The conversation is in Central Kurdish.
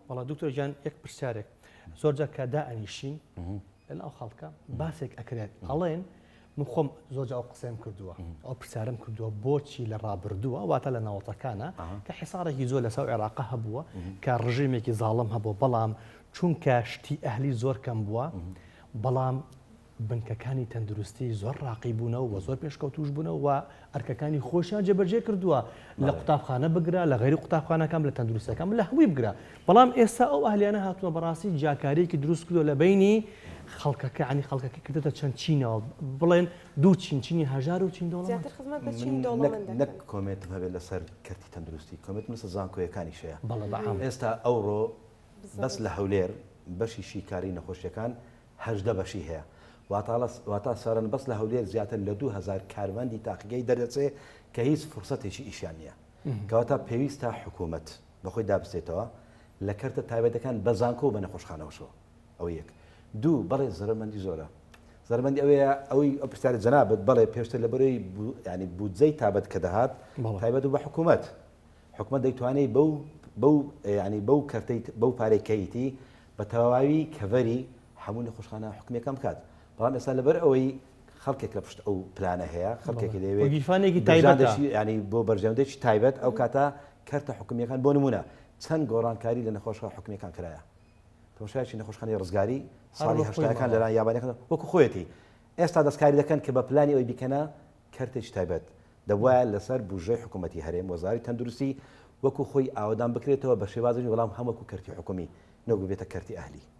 وەڵا دکتۆر گیان یەک پرسیارێک زۆر جار کە دائەنیشین لەناو خەڵکە باسێک ئەکرێت ئەڵێن من خۆم زۆر ئەو قسەم کردووە ئەو پرسیارم کردووە بۆچی لە ڕابردووە واتە لە ناوەتەکانە کە حساڕێکی زۆر لەسەر عێراقا هەبووە کە ڕژێمێکی زاڵم هەبوو بەڵام چونکە شتی ئەهلی زۆر کەم بووە بەڵام بنکەکانی تەندروستی زۆر ڕاقی بوونەوە و زۆر پێشکەوتووش بوونەوە و ئەرکەکانی خۆشیان جێبەجێ کردووە، لە قوتابخانە بگرە، لە غەیری قوتابخانەکان، لە تەندروستییەکان، لە هەمووی بگرە. بەڵام ئێستا ئەو ئەهلییانە هاتووە بەڕاستی جیاکارییەکی دروست کردووە لە بەینی خەڵکەکە، یانی خەڵکەکەی کردۆتە چەند چینەوە، بڵێن دوو چین، چینی هەژار و چینی دەوڵەمەند. زیاتر خزمەت بە چینی دەوڵەمەند دەکەن. من نەک کۆمێنتم هەبێت لەسەر کەرتی تەندروستی، کۆمێنتم لەسەر زانکۆیەکانیش هەیە. بەڵێ بە عام. ئێستا ئەوڕۆ بەس لە هەولێر بەشی شیکاریی نەخۆشییەکان هەژدە بەشی هەیە واتا سەرەن بەس لە هەولێر زیاتر لە دوو هەزار کارمەندی تاقیگەی دەردەچێ کە هیچ فرسەتێکی ئیشیان نییە کەواتە پێویستە حکوومەت بەخۆی دابستێتەوە لە کەرتە تایبەتەکان بە زانکۆ و بە نەخۆشخانەوەشەوە ئەو یەک دوو بەڵێ زەرمەندی زۆرە زەرمەندی ئەوەیە ئەوەی ئەو پرسیاری جەنابەت بەڵێ پێشتر لە بەرەی ینی بودجەی تابەت کە دەهات تایبەت و بە حکوومەت حکومە دەیتوانێت بەو بەو ینی بەو کەرتەی بەو پارێکەیتی بە تەواوی کەڤەری هەموو نەخۆشخانە حکومیەکان بکات بەڵام ئێستا لەبەر ئەوەی خەڵکێک لە پشت ئەو پلانە هەیە خەڵکێکی لەوێ گیرفانێکی تایبەت ینی بۆ بەرژەندێکی تایبەت ئەو کاتە کەرتە حکومیەکان بۆ نمونە چەند گۆڕانکاری لە نەخۆشخە حکومیەکان کرایە تەماشایکی نەخۆشخانی ڕزگاری ساڵی هەشتاکان لەران یابانەکان وەکو خۆەتی ئێستا دەستکاری دەکەن کە بە پلانی ئەوی بیکەنە کەرتێکی تایبەت دەبوایە لەسەر بوجرەی حکومەتی هەرێم وەزاری تەندروستی وەکو خۆی ئاوەدان بکرێتەوە بەشێوازێکی بەڵام هەم وەکو کەرتی حکومی نەک ببێتە کەرتی ئەهلی.